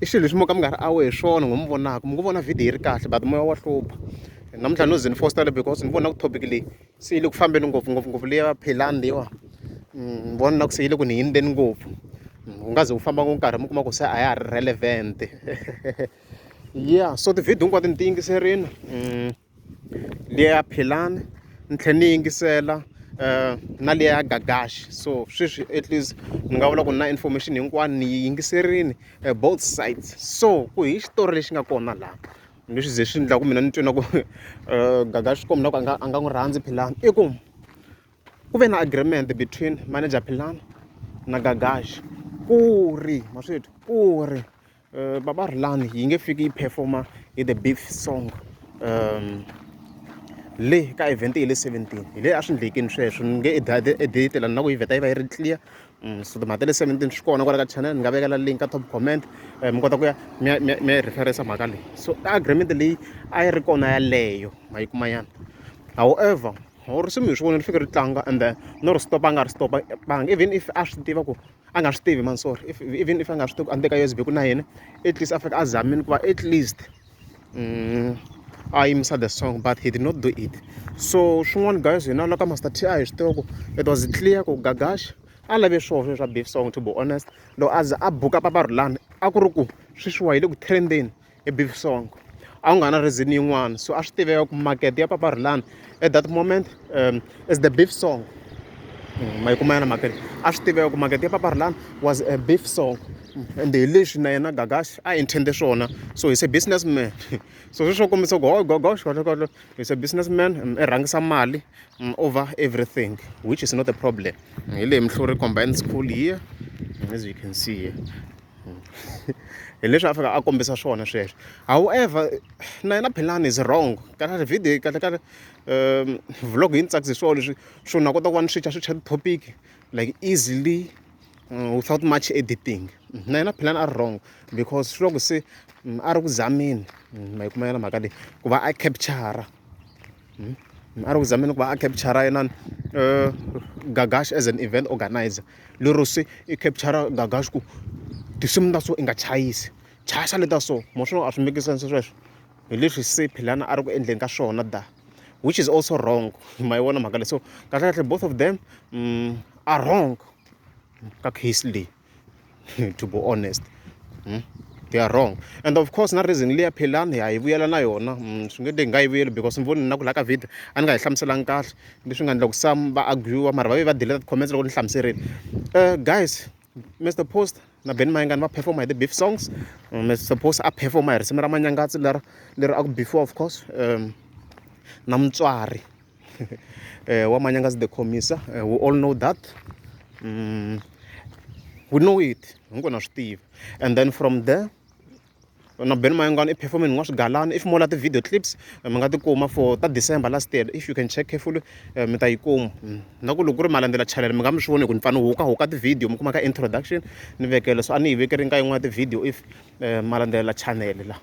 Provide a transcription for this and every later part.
i xilo lexi mo ka mi nga ri awe hi swona ngo mi vonaka mi ngo vona video yi ri kahle but moya wa hlupha namuntlha no ze ni fostela because ni vona ku topic leyi se yi le ku fambeni ngopfu ngopfungopfu leya philani leyiwa mm, ni vona na ku se yi le ku ni yindzeni ngopfu mm, u nga ze u famba ngo nkarhi mi kuma ku se a ya ha ri relevant ya so tivhidiyo hinkwato ni ti yingiserile mm. liya ya philani ni tlhela ni yingisela um na liya ya gagaxi so sweswi at least ni nga vula ku na information hinkwayo ni yi yingiserile eh, both sides so ku hi xitori lexi nga kona laha leswi ze swi endlaku mina ni twe na ku um eh, gagaxi swi komba ku a nga a nga n'wi rhandzi philani i ku ku ve na agreement between manager philani na gagaxi ku ri maswethu ku ri Uh, Baba Rhulani yi nge fiki yi performa hi the beef song um le ka event hi le 17 hi le a swi ndlekini sweswo ni nge editela ni na ku yi vheta yi va yi ri clear mm, so timhaka ta le 17 swi kona kwala ka channel ni nga vekela link ka top comment eh, mi kota ku ya mi ya referensa mhaka leyi so agreement leyi a yi ri kona yaleyo ma yi kumayana however or swi mi hi swi vona ni fike ri tlanga and then no ri stopa a nga ri stopa banga even if a swi tiva ku a nga swi tivi man sorry if, even if a nga swi tivi ku a ni teka usb ku na yena at least a fika a zamile ku va at least mm, a yimisa the song but he did not do it so swin'wana guys hina la ka master ti a hi swi tiva ku it was clear ku gagash a lave swoho swe swa beef song to be honest loko a za a buka paparulani a ku ri ku sweswiwa hi le ku trendeni hi beef song a ku nga na reason yin'wana so a swi tiveka ku market ya papa rhulani at that moment um, is the beef song mm, ma yi kuma yana market a swi tiveka ku market ya papa rhulani was a beef song mm, and hi leswi na yena gagash a intende swona so he's a businessman so swi swo kombisa ku gogosh kahlekahle he's a businessman um, i rhangisa mali um, over everything which is not a problem hi leyi mihluri combined school here as you can see here hmm. hi leswi a fika a kombisa swona sweswo however na yena philani is wrong kahle video kahle kahle um vlog yi ni tsakise swona leswi swo na kota ku va ni switcha switcha ti-topic like easily mm, without much editing na yena philani a ri wrong because swi loko se mm, a ri ku zameni mm, ma yi kumayela mhaka leyi ku va a capture a ri ku zameni ku va a capture-ra inana Gagash as an event organiser. Lero se i capture-ra Gagash ku tinsimu ta so i nga chayisi, chayisa leti ta so. Ma swi vona a swi make sense sweswo? Hi leswi se Philani a ri ku endleni ka swona da, which is also wrong. Ma yi vona mhaka leyi? So kahlekahle both of them are wrong ka case leyi. to be honest hmm? they are wrong and of course na reason leya phelani ha yi vuyela na yona hmm, swi nge te hi nga yi vuyeli because ni voni na ku laha ka video a ni nga yi hlamuselanga kahle leswi nga endla ku sam va argua mara va ve va deleta ti-comments loko ni hlamuserile um guys mr post na ben mayengani va performa hi ti-beef songs um, mr post a performa hi risimu ra manyangatsi leri leri a ku beefiwa of course um na mutswari uh, Wamanyanga is the commissar. Uh, we all know that. Mm, we know it. I'm gonna Steve. And then from there, na ben mayangani i performe ni nga swi galani if mo la ti-video clips eh, mi nga ti kuma for ta december last year if you can check carefully eh, mi ta yi kuma mm. na ku loko ku ri malandzela channel mi nga mi swi voni hi ku ni fanele huka huka ti-video mi kuma ka introduction ni vekele so a ni yi vekeri nka yin'wana ti-video if eh, malandzela channel la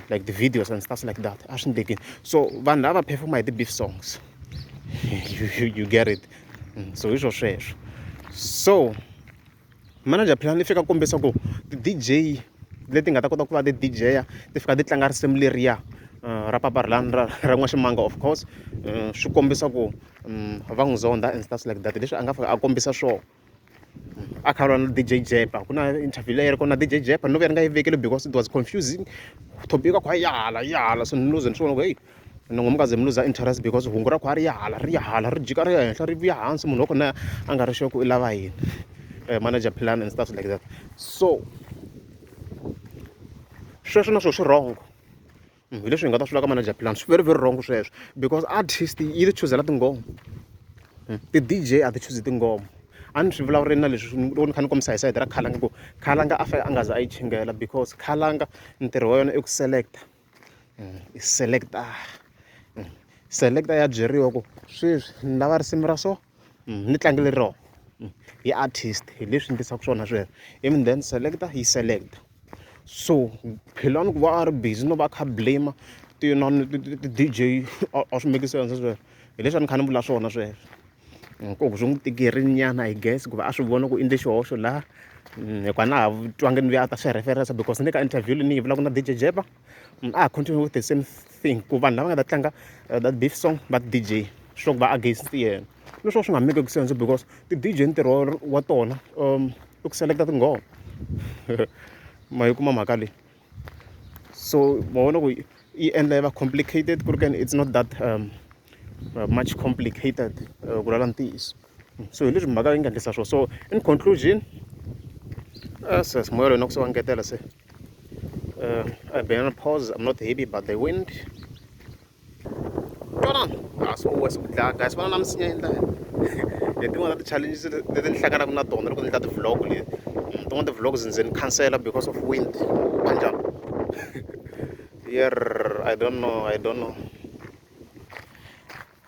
like the videos and stuff like that a swi ndleki so vanhu lava performa hi ti-beef songs you, you, you get it mm, so hi swo sweswo so manager plan i fika kombisa ku ti-dj leti nga ta kota ku va ti-dj ya ti fika ti tlanga risimu leriya eh, ra papa rilani ra ra n'waximanga of course eh, swi kombisa ku mm, va n'wi zonda and stuff like that leswi a nga fika a kombisa swona a kha lwa na dj jepa ku na interview leyi ri kona na dj jepa no ka ri nga yi vekeli because it was confusing topic ka khwa yahala yahala so ni luze ni swi vona ku heyi ni ngo mukaze mi luza interest because hungu ra khwa ri yahala ri yahala ri jika ri ya henhla ri vuya hansi munhu wa kona a nga ri sure ku i lava yini eh, manager plan and stuff like that so sweswo na swo swi wrong hi leswi hi nga ta swi vula ka manager plan swi very very wrong sweswo because artist yi ti chuzela tinghoma hmm. ti-dj a ti chuzi tinghoma a ni swi vulavurile na leswi loko ni kha ni kombisa hi sayiti ra khalanga ku khalanga a fanele a nga za a yi chingela because khalanga ntirho wa yona i ku selecta hmm. i selecta hmm. selecta ya byeriwa ku sweswi ni lava risimu ra so ni tlangele rona hi artist hi leswi endlisaka swona sweswo ivi then select yi select so philani ku va a ri busy no va a kha a blame ti inana ti ti ti D_J a swi make sense sweswo hi leswi a ni kha ni vula swona sweswo ku swi n'wi tikerile nyana I guess ku va a swi vona ku i endle xihoxo laha hikuva a na ha twangi ni luya a ta swi reference because ni le ka interview leyi ni yi vulaka na D_J Jeppa. mm, a ah, continue with the same thing ku vanhu lava nga ta tlanga uh, that beef song va dj sure ku va against yena leswo swi nga make ku sense because ti-dj ntirho wa tona um i ku selekta tinghoma ma yi kuma mhaka leyi so ma vona ku yi endla yi va complicated ku ri kani it's not that um, uh, much complicated uh, ku lala ntiyiso so hi leswi mhaka yi nga endlisa swona so in conclusion se moya loyi na ku se wa ngetela se uh, I've been on pause I'm not happy but the wind twanana a swi owe swi ku dlaya guys vana na misinya endla hi tin'wana ta ti-challenges leti ni hlanganaka na tona loko ni endla ti-vlog leti mm, tin'wana ti-vlogs ndzi ni cancela because of wind wa njhani yer I don't know I don't know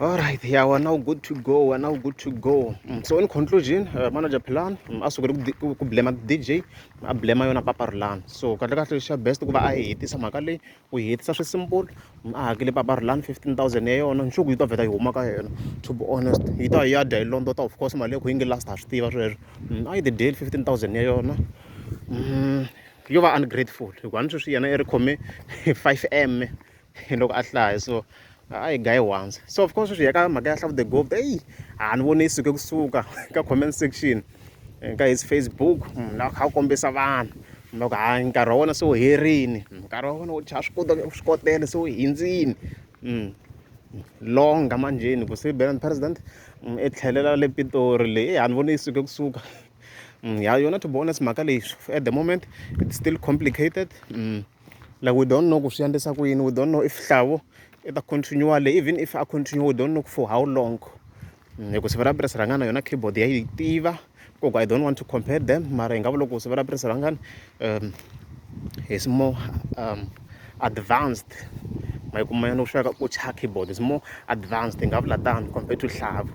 All right, yeah, we're now good to go. We're now good to go. Mm, so in conclusion, uh, manager Plan mm, a sukele ku ku blema DJ, a blema yona Papa Rulan. So kahle kahle lexi xa best ku va a yi hetisa mhaka leyi, u yi hetisa swi simple, mm, a hakele Papa Rulan 15000 ya yona, nchuku yi ta vheta yi huma ka yena. To be honest, yi ta yi ya dya yi londota of course mali ya ku yi nge last ha swi tiva sweswo. Mm, A yi the deal 15000 ya yona. Mm, yo va ungrateful hikuva ni sweswi yena i ri khome 5 m loko a hlaya so a yi guy once so of course sweswi hi ka mhaka ya hlavu the govt eyi a ni voni yi suke kusuka ka comment section ka his facebook munhu la kha a kombisa vanhu loko ha nkarhi wa wena se wu herini nkarhi wa wena wu chaya swi kota swi kotele se wu hindzini longa manjheni ku se bela president i tlhelela le pitori leyi a ni voni yi suke kusuka ya yona to be honest mhaka leyi at the moment it's still complicated mm. like we don't know ku swi endlisa ku yini we don't know if hlavo i ta continue le even if a continue we don't know for how long mm, hi ku siva ra purasi rangana yona keyboard ya yi tiva koko i don't want to compare them mara hi nga vula ku siva ra purasi rangana um is more um, advanced ma yi kuma yona ku sweka ku cha keyboard is more advanced hi nga vula tano compared to hlavo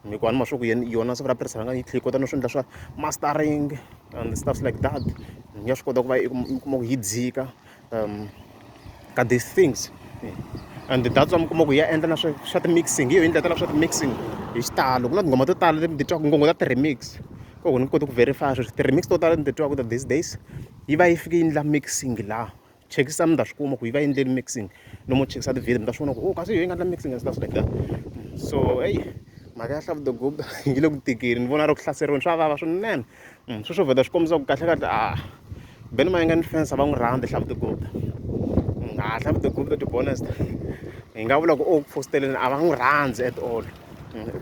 hikuva ni ma swa ku yona siva ra purasi rangana yi tlhe yi kota no swi endla swa mastering and stuffs like that ni nga swi kota ku va i kuma ku yi dzika um ka these things and that's why mi kuma ku ya endla na swa swa ti-mixing hi yo yi ndlela tala swa ti-mixing hi xitalo ku na tinghoma to tala leti titwaka ngongo ta ti-remix ko ku ni koti ku verify sweswi ti-remix to tala ni titwaka ta these days yi va yi fike yi endla mixing laha chekisisa mi ta swi kuma ku yi va endleli mixing no mo chekisa tivhele mi ta swi vona ku o oh, kasi yi nga endla mixing and stuff like that so eyi mhaka ya hlavu dogoba yi le ku tikeni ni vona ri ku hlaseriweni swa vava swinene mm, sweswo vheta swi kombisa ku kahlekahle a ah, beni mayinga ni fensa va n'wi rhandza hlavu dogoba mm, a ah, hlavu dogoba to be honest hi nga vula ku o oh, ku fositeleni a va n'wi rhandzi at all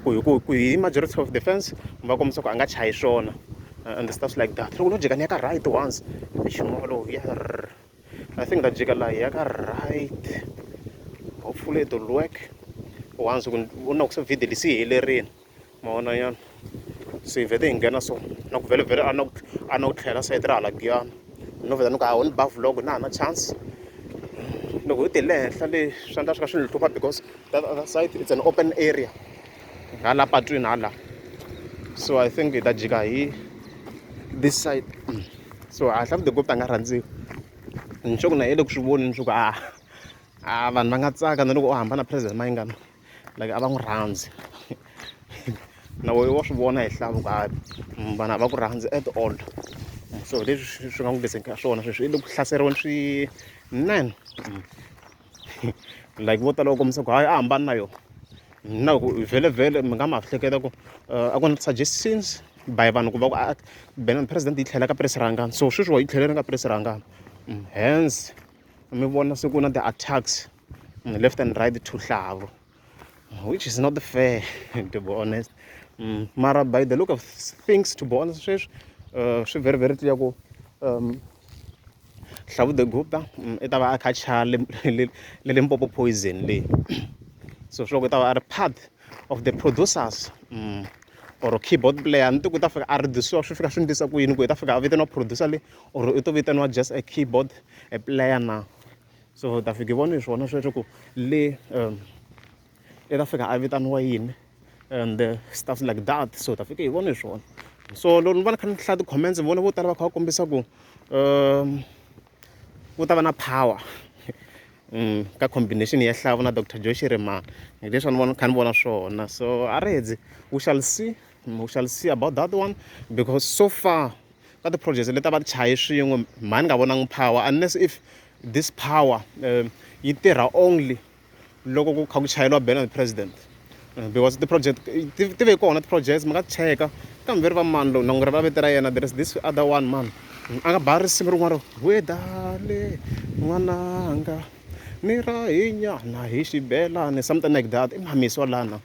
ku hi ku ku hi majority of the fans mi va kombisa ku a nga chayi swona and the stuff like that loko no jika ni ya ka right once nchumu wolowo ya i think ta jika laha ya ka right hopefully it will work once ku vona ku se video lisi helerile ma vona nyana se hi vhete hi nghena so na ku vhele vhele a na ku a na ku tlhela sayiti ra hala giyana no vheta ni ku hawu ni ba vlog na ha na chance loko hi te le henhla le swi endla swi ka swi ni hlupha because that other side it's an open area hala patwini hala so i think hi ta jika hi this side mm. so a hlavu the gopta nga rhandziwi ni sure ku na yele ku swi voni ni swi ku a a vanhu va nga tsaka na loko u hamba na president mayingana like a va n'wi rhandzi na wehe wa swi vona hi hlavu ka mm, vanhu a va ku rhandzi at all mm, so leswi swi nga n'wi leseni ka swona sweswi i le ku hlaseriweni swi nine mm. like vo tala u kombisa ku hayi a hambani na yona na ku vhele vhele mi nga ma hleketa ku eh, a ku na suggestions by vanhu ku va ku ah, bena president yi tlhela ka presi rangani so sweswi wa yi tlheleni ka presi rangani hence mi vona se ku na ti-attacks on the left and right two hlavu which is not fair to be honest mm, mara by the look of things to be honest sweswi uh, swi very very clear ku um, hlavu the gupta mm, i ta va a kha chaya le limpopo poison leyi so swi loko i ta va a ri part of the producers mm, or keyboard player ni ti ku ta fika a reduciwa swi fika swi ndlisa ku yini ku i ta fika a vitaniwa producer le or i to vitaniwa just a keyboard a player na so ta fika hi vona hi swona sweswo ku le um i ta fika a vitaniwa yini and uh, stuff like that so ta fika hi vona hi swona so loko ni va ni kha ni hlaya ti-comments ni vona vo tala va kha va kombisa ku um ku ta va na power um ka combination ya hlavo na dr joy shirimana hi leswi a ni vona kha ni vona swona so a ri hedzi we shall see we shall see about that one because so far ka ti projects leti va ti chaye swin'we mhani nga vonangi power unless if this power um yi tirha only loko ku kha ku chayeliwa bela the president uh, because ti project ti ve kona ti projects mi nga cheka kambe ri va mani lowu nangu ri va vete ra yena there is this other one man a nga ba risimu rin'wana wedale n'wananga ni ra hinyana hi xibelani something like that i mhamisi wa lana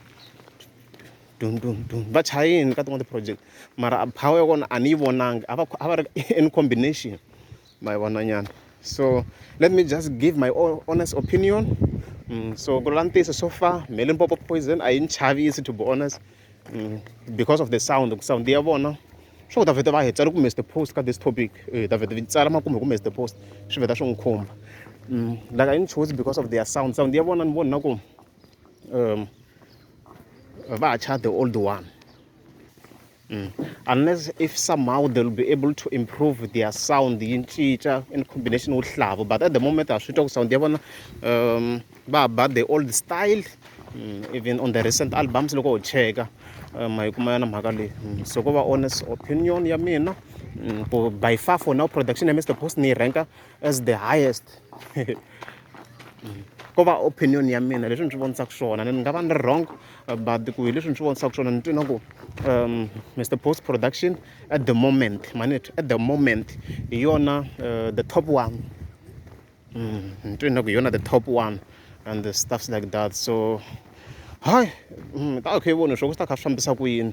dun dun dun va chaya yini ka tin'wana ti-project mara a power ya kona a ni yi vonangi a va a va ri in combination ma yi vona nyana so let me just give my own honest opinion mm, so ku la ntiyiso so far me limpopo poison a yi ni chavisi to be honest mm, because of the sound ku sound ya vona swo ta vheta va hi tsala ku mr post ka this topic eh, ta vheta tsala makume ku mr post swi vheta swi n'wi khumba mm, like a yi ni choose because of their sound sound ya vona ni vona na ku um, va cha the old one mm. unless if somehow they'll be able to improve their sound yi cinca in combination with hlavu but at the moment a swi twa ku sound ya vona um va ba the old style mm. even on the recent albums loko u cheka um hi kuma yona mhaka leyi mm. so ko va honest opinion ya mina mm, ku by far for now production ya mr post ni yi ranka as the highest ko va opinion ya mina leswi ni swi vonisaka swona ni nga va ni ri wrong uh, but ku hi leswi ni swi vonisaka swona ni twi na ku um mr post production at the moment manit at the moment hi yona uh, the top one mm, ni twi na ku hi yona the top one and the stuffs like that so hayi mm, ta khe yi voni swo ku swi ta kha swi fambisa ku yini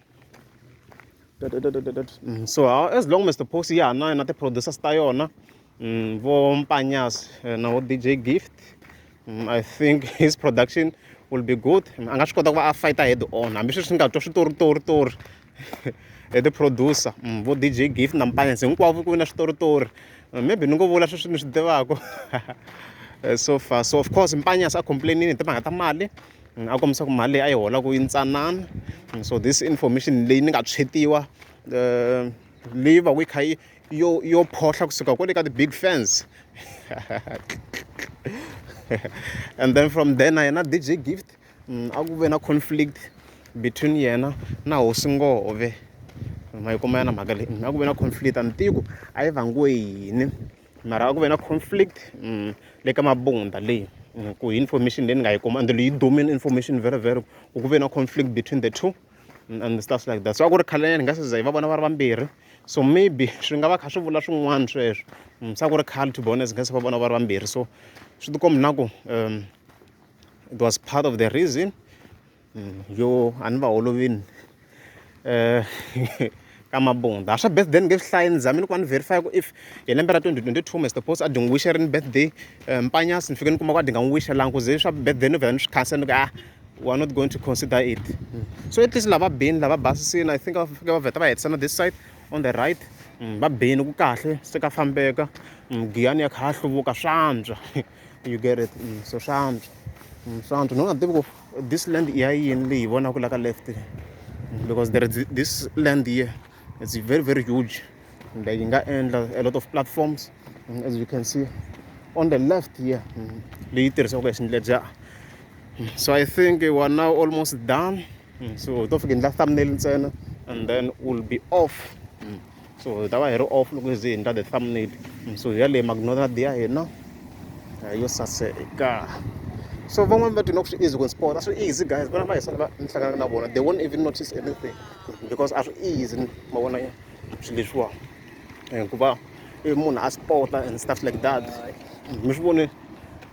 Mm, so as long as the post ya ha na yona ti-producers ta yona mm, vo mpanyas eh, na vo dj gift mm, i think his production will be good a nga swi kota ku va a fighter head on hambi sweswi ni nga twa switoritoritori hi ti-producer vo dj gift na mpanyas hinkwavo ku vi na switoritori maybe ni ngo vula sweswi ni swi tivaka eh, so far so of course mpanyas a complainini hi timhaka ta mali a kombisa ku mali leyi a yi holaka yi ntsanana so this information leyi ni nga tshwetiwa um leyi va ku yi kha yi yo yo phohla kusuka kwale ka ti-big fans and then from there na yena dj gift mm, a ku ve na conflict between yena na hosi ngove ma yi kuma yana mhaka leyi mm, a ku ve na conflict a ni tivi ku a yi vangiwe yini mara a ku ve na conflict le ka mabunda leyi ku hi information leyi ni nga yi kuma and leyi domini information very very ku ku ve na conflict between the two and stuff like that so a ku ri khalanyana hi nga se za hi va vona va ri vambirhi so maybe swi nga va kha swi vula swin'wana sweswo mm, se a ku ri khale to be honest hi nga se va vona va ri vambirhi so swi tikombi na ku um it was part of the reason yo a ni va holovini ka Mabunda a swa birthday ni nge swi hlayi ni zamini ku va ni verify ku if hi lembe ra twenty twenty two Mister Boss a dyi n'wi wish-erini birthday Mpanyasi ni fike ni kuma ku a dyi nga n'wi wish-elangi ku ze swa birthday ni vhela ni swi khansela ni ku a we are not going to consider it so at least lava bini lava basisini I think va fike va vheta va hetisa na this side on the right va bini ku kahle se ka fambeka giyani ya kha ya hluvuka swantswa you get it so swantswa swantswa ni nga tivi ku. This land i ya yini leyi hi vonaka la ka left because there is this land here it's very very huge and yi nga endla a lot of platforms mm, as you can see on the left here mm, leyi tirhisiwaka hi xindledya mm, so i think we are now almost done so hi to fika endla thumbnail ntsena and then we'll be off so hi ta va hi ri off loko hi ze hi endla the thumbnail so hi ya leyi magnonad ya hina yo saseka so van'wani va tina ku swi easy ku sport a swi easy guys vana va hi sala va ni hlanganaka na vona they won't even notice anything because a swi easy ma vona swilo leswiwa hikuva i munhu a sporta and stuff like that mi swi vone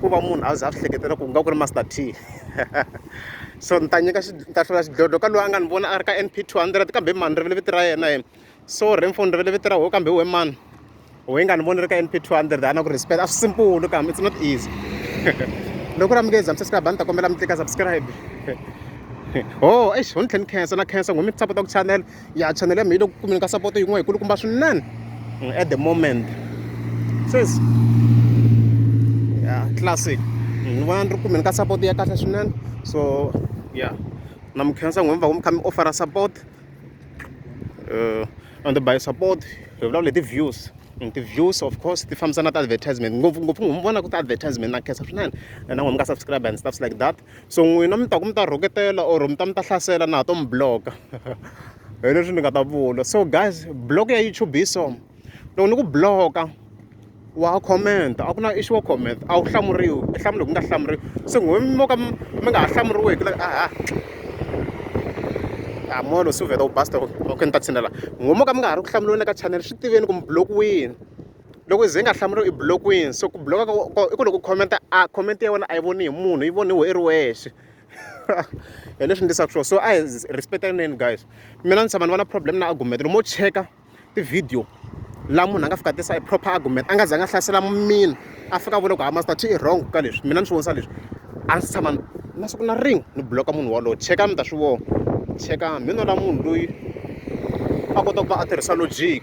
ku va munhu a za a swi hleketela ku nga ku ri master t so ni ta nyika ni ta hlula xidlodlo ka loyi a nga ni vona a ri ka np 200 kambe mani rivele vito ra yena yena so renfo ni rivele vito ra ho kambe we mani we nga ni voni ri ka np 200 a na ku respect a swi simple kambe it's not easy loko ra mi nge za mi subscribe a ni ta kombela mi tlika subscribe ho oh, eish ho ni tlhe ni khensa na khensa ngo mi sapota ku chanela ya channel ya mina yi le ku kumeni ka support yin'wana yi kulukumba swinene mm, at the moment says ya classic mm, ni vona ni ri kumeni ka support ya kahle swinene so ya na mi khensa n'wini va ku mi kha mi offera support uh, and by support hi vulavula hi ti-views mm, ti-views of course ti fambisana ta advertisement ngopfungopfu n'wi mi vona ku ti-advertisement na khensa swinene na n'wi mi nga subscribe and stuffs like that so n'wina mi ta ku mi ta rhoketela or mi ta mi ta hlasela na ha to mi bloka hi leswi ni nga ta vula so guys block ya youtube hi so loko ni ku bloka wa comment a ku na issue wa comment a wu hlamuriwi i hlamula ku nga hlamuriwi se n'we mo ka mi nga ha hlamuriweki like aha a molo swi vheta u basta okay ni ta tshinela n'we mo ka mi nga ha ri ku hlamuriweni ka channel swi tiveni ku mi blokiwini loko ze nga hlamuriwi i blokiwini so ku bloka i ku loko u khomenta a khomenti ya wena a yi voni hi munhu yi voniwe i ri wexe hi leswi ndlisaka swona so a hi respectaneni guys mina ni tshama ni va na problem na argument lomo cheka tivhidiyo laha munhu a nga fika tisa i proper argument a nga za nga hlasela mina a fika a vula ku ha master chi i wrong ka leswi mina ni swi vonisa leswi a ndzi tshama na siku na ring ni bloka munhu walowo cheka mi ta swi vona cheka mi nola munhu loyi a kota ku va a tirhisa logic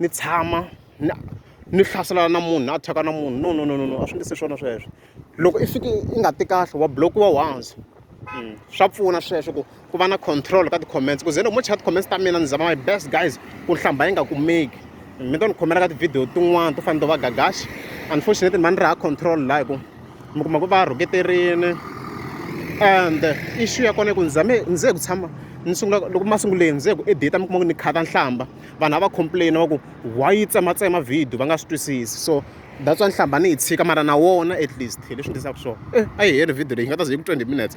ni tshama ni ni hlaselana na munhu ni attack-a na munhu no no no no no a swi nge se swona sweswo loko i fike i nga ti kahle wa block-iwa once swa pfuna sweswo ku ku va na control ka ti-comments ku ze loko mo cheka ti-comments ta mina ni zama my best guys ku nhlamba yi nga kumeki mi to ni khomela ka tivhidiyo tin'wana to fana to va gagaxi unfortunately mani ri ha control laha hi ku mi kuma ku va rhuketerini and issue ya kona i ku ni zame ni ze hi ku tshama ni sungula loko ma sunguleni ni ze hi ku edita mi kuma ku ni khata nhlamba vanhu a va complain va ku why yi tsematsema video va nga swi twisisi so that's why ni hlamba ni yi tshika mara na wona at least hi leswi ndzi swona eh a yi heli video leyi nga ta ze yi ku twenty minutes